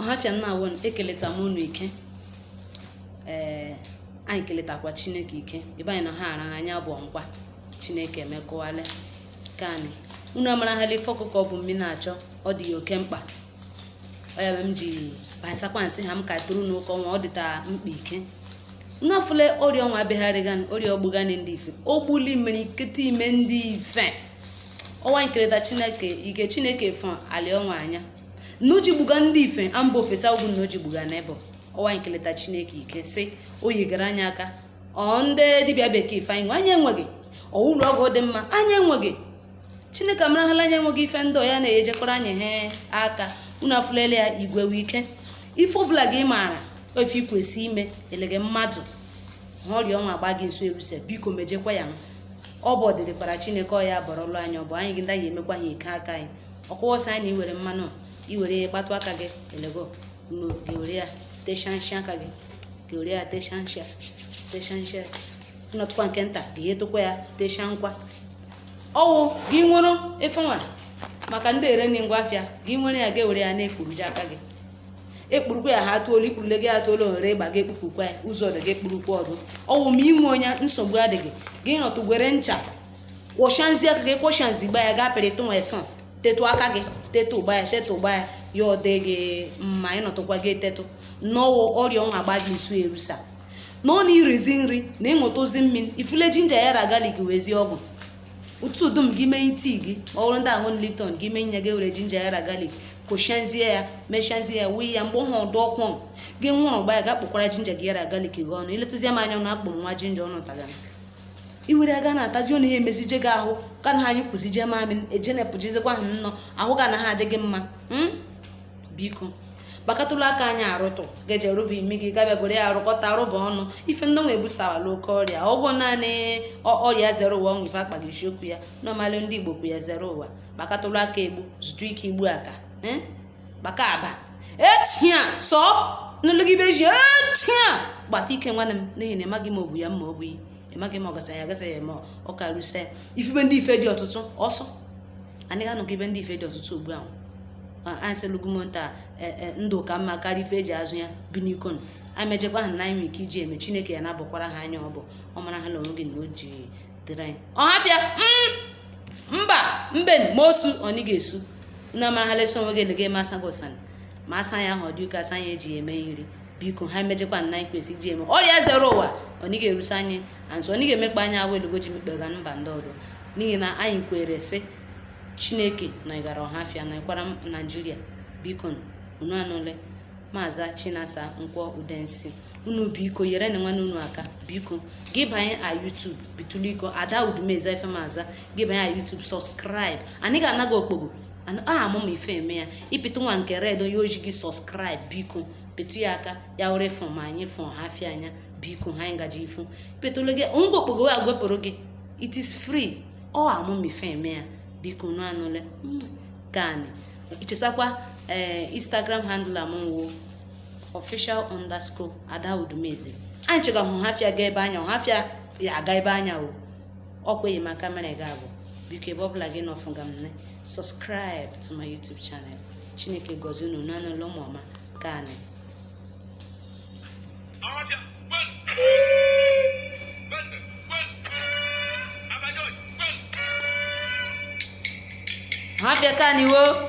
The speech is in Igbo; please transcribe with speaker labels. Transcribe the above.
Speaker 1: ọhafịa nnaawo ekeleta m unu ike ee anyị keletakwa chineke ike ebe anyị na ha ara anya abụọ nkwa chineke emekọwala ka anyị unu amarahala ife ọkụkọ bu mmiri na-achọ ọ dị ya oke mkpa ọyabe m ji basakwa sị ha m ka tụrụ n'ụka ọnwa ọ dịta mkpa ike unu afụle ọrịa ọnwa abịagharịga ọrịa o gbugala ndị ife o gbuli imerikiti ime ndị ife ọnwa keleta chineke ike chineke fọ alị ọnwa anya na o ji gbuga ndị ife mba ofesi ugwu na o ji gbuga n'ebe ọnwa keleta chineke ike sị o nyegara anyị aka ọ ndị dibịa bekee ife anyị nwe anyị enweghị ụlọ ọgwụ dị mma anyị enweghị chineke amarahala anyị enweghị ife ndị a na-enyekwara anyị ha aka unu afụlele ya igwe wee ike ife ọbụla gị maara ọ ife i kwesị ime elege mmadụ ha ọrịa ọnwa agba gị nso erusa biko mejekwa ya ọ bụ ọdịdịkwara chineke ọ ya bọrọlụ anya ọ bụ anyị gị ndị anyị emekwa ha ike aka anyị ọkụwọsọ anyị na i were mmanụ i were ihe kpatụ aka gị elege nọ ga-ewere ya teshanshi aka gị ga-ewere ya teshanshi teshanshi nọtụkwa nke nta ga-ewetụkwa ya tesha nkwa ọ wụ gị nwere ife nwa maka ndị ere nye ngwa afịa gị nwere ya ga-ewere ya na-ekpuru ji aka gị ekpurukwa ya ha atụolu ikpurule gị atụolu ohere ịgba gị ekpupụkwa ya ụzọ dị gị ekpurukwa ọdụ ọ wụ ma i nwe ya nsogbu adịghị gị nọtụ gị were ncha kwọshanzi aka gị kwọshanzi gba ya gaa pịrịtụ nwa ife tetụ aka gị tetụ ụgba ya tetụ ụgba ya ya ọ dị gị mma ị nọtụkwa gị etetụ n'ọwụ ọrịa ọnwa agba gị nso erusa na ọ na irizi nri na ịṅụtazi mmiri ị fụle jinja ya ra galik wezie ọ wụ ụtụtụ dum gị mee tii gị ma ọ bụrụ ndị aṅụ lipton gị mee nye gị were jinja ya ra galik kwọshanzie ya meshanzie ya wuyi ya mgbe ọhụ ọ dị ọkụ gị ṅụrụ gba ya ga kpụkwara jinja gị ya ra galik gị ọnụ iletụzie m anya na akpụ nwa jinja ọnụ tagara iwere aga na-ataji na ihe emezije gị ahụ ka na anyị kwụzije mamị ejenepụjizikwa ha nnọọ ahụ ga na ha adịghị mma hmm? biko gbakọtụlụ aka anyị arụtụ gaje rụba imi gị gị abịa were ya arụkọta rụba ọnụ ife ndị nwa ebusawala oke ọrịa ọ wụ naanị ọrịa zere ụwa ọ wụ ife akpaghị isiokwu ya nọmalụ ndị igbo kwu ya zere ụwa gbakọtụlụ aka egbu zụtụ ike igbu aka eh? gbaka aba etia sọ nlụgide ji etia gbata ike nwanne m n'ihi na ị maghị ma o bu ya ma o bu ya ị maghị ma ọ gasa ya agasa ya ma ọ karịsịa ifibe ndị ife dị ọtụtụ ọsọ anyị ga ibe ndị ife dị ọtụtụ ugbu ahụ anyị sị lugumonta e, e, ndụ ka mma karịa ife eji azụ ya bikonụ anyị mejekwa ha na anyị nwere ike iji eme chineke ya na-abụkwara ha anya ọ bụ ọ mara ha na onwe gị na o ji dịrị anyị ọhafịa mm, mba mbe ma osu ọnị ga-esu unu amara ha lesi onwe gị ele gị eme asa gị ụsanị ma asa ya ahụ ọ dị uke asa ya eji eme nri biko ha emejekwa na anyị kwesị iji eme ọrịa zuru ụwa ọ nịghị erusi anyị and so ọ nịghị emekpa anyị ahụ elugo ji mekpega mba ndị ọzọ n'ihi na anyị kwere sị chineke na ịgara ọhafịa na ịkwara naijiria biko unu anụle maazị chinasa nkwọ udensi unu biko yere nụ nwanne unu aka biko gị banye a YouTube bituliko ada udumeze efe maza gị banye a YouTube subscribe anyị ga-anaghị okpogho aha amụma ife eme ya ịpịtụ nwa nke red onye oji gị subscribe biko pịtụ ya aka ya were fụ m anya fụ ọhafịa anya biko ha anyị gaji ifu petrol gị onweghị okpogho a ga-ewepụrụ gị it is free ọ amụmife eme ya biko nụ anụle hmm, gani ichesakwa ee eh, instagram handle m wụ official underscore ada udumeze anyị chekwa ọhafịa ga ebe anya ọhafịa ya aga ebe anya o ọkweghị maka mere ga abụ biko ebe ọbụla gị nọfụ ga m ne subscribe to my youtube channel chineke gọzie unu nụ anụle ụmụ ọma ka anyị Mafia kaniwo.